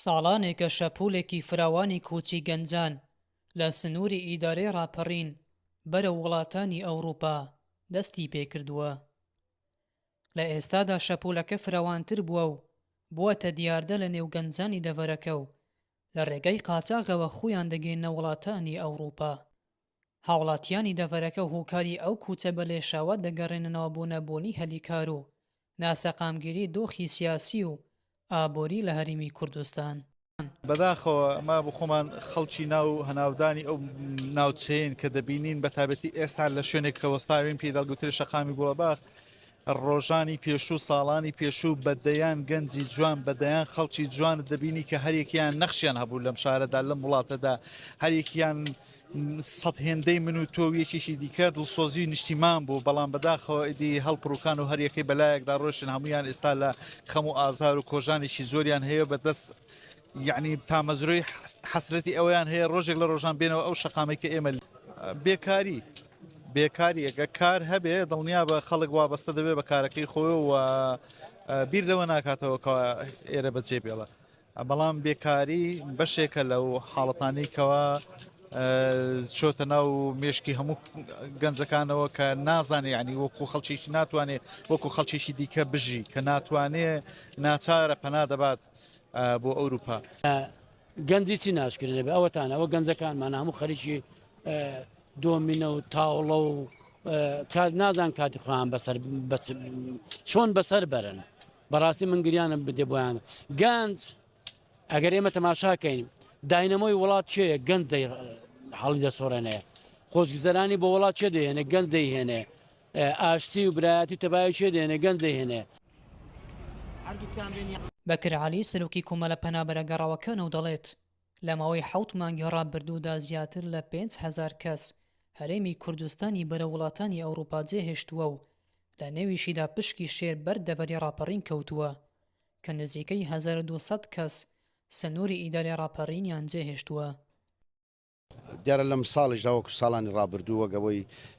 ساڵانێکە شەپۆلێکی فراوانی کۆچی گەنجان لە سنووری ئیدارەی ڕاپەڕین بەرەو وڵاتانی ئەوڕوپا دەستی پێکردووە. لە ئێستادا شەپۆلەکە فراوانتر بووە و بووەتە دیاردە لە نێو گەنجانی دەڤەرەکە و لە ڕێگای قاچاغەوە خۆیان دەگەێننە وڵاتانی ئەوڕوپا. هاوڵاتیانی دەڤەرەکە هوکاری ئەو کوچە بە لێشاوە دەگەڕێننەوە بۆ نەبوونی هەلی کار و ناسەقامگیری دۆخی سیاسی و ئابوری لە هەریمی کوردستان. بەداخەوە ئەمە بۆ خۆمان خەڵکی ناو و هەناودانی ئەو ناوچەیەین کە دەبینین بەتابەتی ئێستا لە شوێنێک کە وەستاوین پێی دەڵگوترێ شەقامی گوڵەباخ ڕۆژانی پێشوو ساڵانی پێشوو بە دەیان گەنجی جوان بە دەیان خەڵکی جوانت دەبینی کە هەرێکیان نەخشیان هەبوو لەم شارەدا لەم وڵاتەدا هەرێکیان سەد هێندەی من و تۆ یەکێکی دیکە دڵسۆزی نیشتیمان بوو بەڵام بەداخەوە ئیدی هەڵپڕوکان و هەریەکەی بەلایەکدا ڕۆشن هەمویان ئێستا لە خەم و ئازار و کۆژانێکی زۆریان هەیە بەدەست یعنی تامەزرۆی حەسرەتی ئەویان هەیە ڕۆژێک لە ڕۆژان بێنەوە ئەو شقامێکە ئێمە بێکاری بێکاریە گەر کار هەبێ دڵنیابە خەڵک وابەستە دەبێ بە کارەکەی خۆی و بیر لەوە ناکاتەوە کە ئێرە بەجێ بێڵە بەڵام بێکاری بەشێکە لەو حاڵەتانی کەەوە چۆتە ناو مێشکی هەموو گەنجەکانەوە کە نازانێ ینی وەکو خەڵکیی ناتوانێت وەکو خەڵکیی دیکە بژی کە ناتوانێ ناچارە پەنا دەبات بۆ ئەوروپا گەنجی چی ناشکرێنێ بە ئەوەتانەوە گەنجەکانمان هەموو خەریکی دۆمینە و تاوڵە و کات نازان کاتی خۆیان بەسەر چۆن بەسەر بەرن بەڕاستی من گریانم بدێ بۆیان گەنج ئەگەر ئێمە تەماشاکەین داینەمەوەی وڵات چێ گەنج دەی حاڵی دەسۆڕێنەیە خۆشگوزەرانی بۆ وڵات چێ دەهێنێ گەنج دەیهێنێ ئاشتی و برایەتی تەبای چێ دێنێ گەنج دەهێنێ بەکر عەلی سەرۆکی کۆمەڵە پەنابەرە گەڕاوەکانە و دەڵێت، لە ماوەی حەوت مانگی ڕابردوودا زیاتر لە پێنج هەزار کەس هەرێمی کوردستانی بەرەو وڵاتانی ئەوروپا جێهێشتووە و لە نێویشیدا پشکی شێر بەر دەڤەری ڕاپەڕین کەوتووە کە نزیکەی هەزار و دوو سەد کەس سنووری ئیدارەی ڕاپەڕینیان جێهێشتووە. دیارە لەمساڵیشدا وەکو ساڵانی ڕابردوو وەک ئەوەی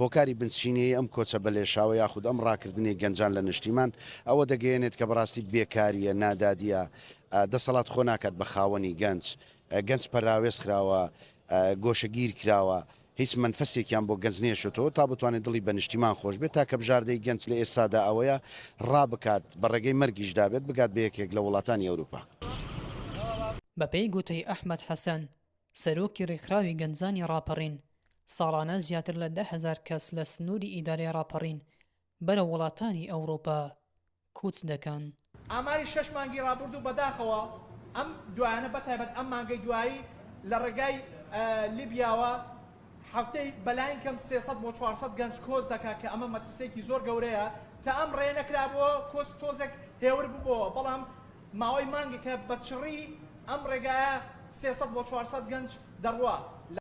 هۆکاری بنچینەیی ئەم کۆچە بەلێشاوە یاخود ئەم ڕاکردنەی گەنجان لە نشتیمان، ئەوە دەگەیەنێت کە بەڕاستی بێکارییە، نادادییە، دەسەڵات خۆ ناکات بە خاوەنی گەنج، گەنج پەراوێز خراوە، گۆشەگیر کراوە، هیچ مەنفەسێکیان بۆ گەنج نێشتۆتەوە تا بتوانێت دڵی بە نشتیمان خۆش بێت، تاکە بژاردەی گەنج لە ئێستادا ئەوەیە ڕابکات، بە ڕێگەی مەرگیشدا بێت، بگات بە یەکێک لە وڵاتانی ئەوروپا. بەپێی گوتەی ئەحمەد حەسەن، سەرۆکی ڕێکخراوی گەنجانی ڕاپەڕین، ساڵانە زیاتر لە دە هەزار کەس لە سنووری ئیدارەی ڕاپەڕین بەرەو وڵاتانی ئەوڕۆپا کوچ دەکەن. ئاماری شەش مانگی ڕابوردوو بەداخەوە ئەم دوایانە بەتایبەت ئەم مانگەی دوایی لە ڕێگای لیبیاوە هەفتەی بەلاین کەم سێ سەد بۆ چوار سەد گەنج کۆچ دەکا کە ئەمە مەترسیەکی زۆر گەورەیە تائەم ڕێ نەکرابوەوە کۆچ تۆزێک هێور ببۆوە بەڵام ماوەی مانگێکە بە چڕی ئەم ڕێگایە سێ سەد بۆ چوار سەد گەنج دەڕوا لە.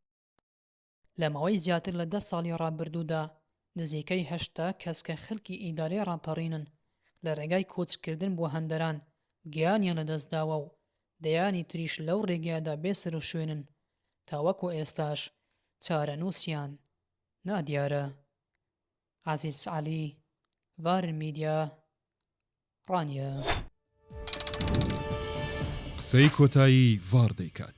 لە ماوەی زیاتر لە دە ساڵی ڕابردوودا نزیکەی هەشتا کەس کە خەلکی ئیدارەی ڕاپەڕینن لە ڕێگای کۆچکردن بۆ هەندەران گیانیان لە دەست داوە و دەیانی تریش لەو ڕێگایەدا بێ سەروشوێنن تاوەکو ئێستاش چارەنووسیان نادیارە. عەزیز عەلی، ڤارن میدیا، ڕانیە. قسەی کۆتایی ڤاڕ دەیکات.